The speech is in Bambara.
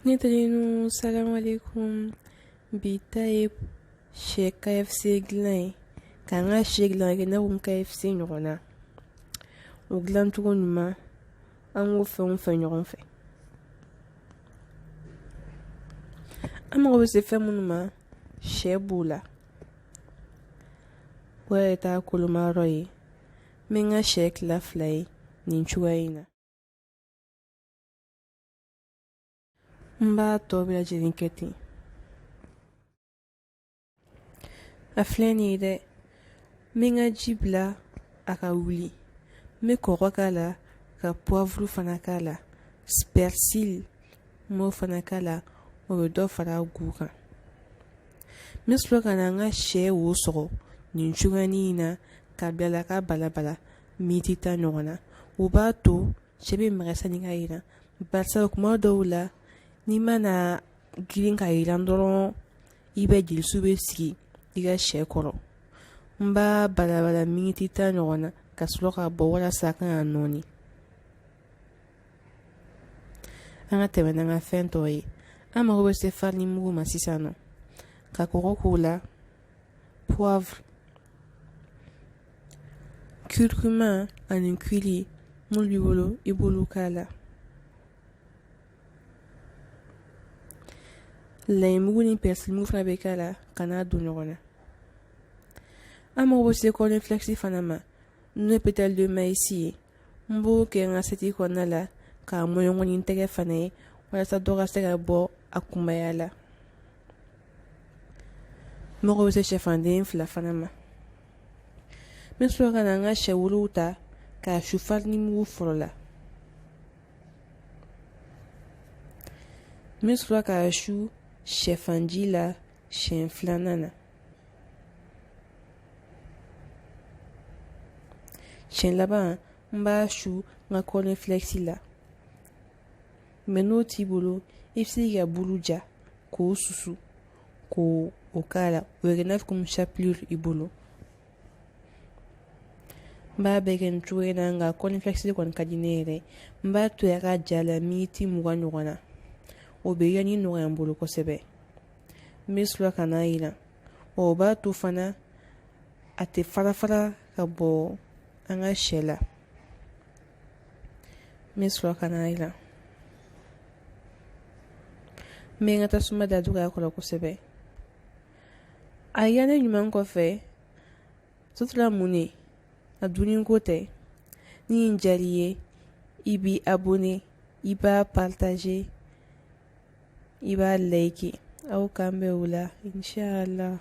Ne teriw salamu alekum bi ta ye sɛ KFC dilan ye k'an ka sɛ dilan kɛ n'a fɔ komi KFC ɲɔgɔn na o dilancogo ɲuman an k'o fɛnw filɛ ɲɔgɔn fɛ an mago bɛ se fɛn minnu ma sɛ b'o la o yɛrɛ ta kolomayɔrɔ ye n bɛ n ka sɛ tila fila ye nin cogoya in na n b'a tɔ bɛɛ lajɛlen kɛ ten a filɛ nin ye dɛ n bɛ n ka ji bila a ka wuli n bɛ kɔgɔ k'a la ka puwavuru fana k'a la pɛrisili n b'o fana k'a la o bɛ dɔ fara a gu kan n bɛ sɔrɔ ka na n ka sɛ wo sɔgɔ nin cogoyanin in na k'a bila a la k'a balabala miniti tan ɲɔgɔn na o b'a to Sɛ bɛ magaya sanni k'a jiran barisa kuma dɔw la n'i mana girin k'a jiran dɔrɔn i b'a ye jelisu bɛ sigi i ka shɛ kɔrɔ n b'a balabala miniti tan ɲɔgɔn na ka sɔrɔ k'a bɔ walasa a kana nɔɔni an ka tɛmɛ n'an ka fɛn tɔw ye an mago bɛ se farinimugu ma sisan nɔ ka kɔgɔ k'o la puwavuru Curcuma ani curry minnu b'i bolo i b'olu k'a la layimugu ni pɛrisilimugu fana bɛ k'a la ka n'a don ɲɔgɔn na an mago bɛ se cornflakes fana ma n'o ye pétale de maïs ye n b'o kɛ n ka asiyɛti kɔnɔna la k'a mɔɲɔgɔn ni n tɛgɛ fana ye walasa dɔ ka se ka bɔ a kunbaya la n mago bɛ se sɛfanden fila fana ma n bɛ sɔrɔ ka na n ka sɛ wolow ta k'a su farinimugu fɔlɔ la n bɛ sɔrɔ k'a su sɛfanji la siɲɛ filanan na siɲɛ laban n b'a su n ka cornflakes la mɛ n'o t'i bolo i bɛ se k'i ka bulu ja k'o susu k'o k'a la o bɛ kɛ n'a fɔ komi chapelure i bolo n b'a bɛɛ kɛ nin cogo in na nka cornflakes kɔni ka di ne yɛrɛ n b'a to a ka ja la miniti mugan ɲɔgɔn na o bɛ yanni nɔgɔya n bolo kosɛbɛ n bɛ sɔrɔ ka n'a yiran o b'a to fana a tɛ fara fara ka bɔ an ka sɛ la n bɛ sɔrɔ ka n'a jiran n bɛ n ka tasuma da dɔgɔya a kɔrɔ kosɛbɛ a yiranni ɲuman kɔfɛ sa a tora mun ne a dunni ko tɛ ni nin diyar'i ye i b'i abonné i b'a partager i b'a like aw k'an bɛn o la inshallah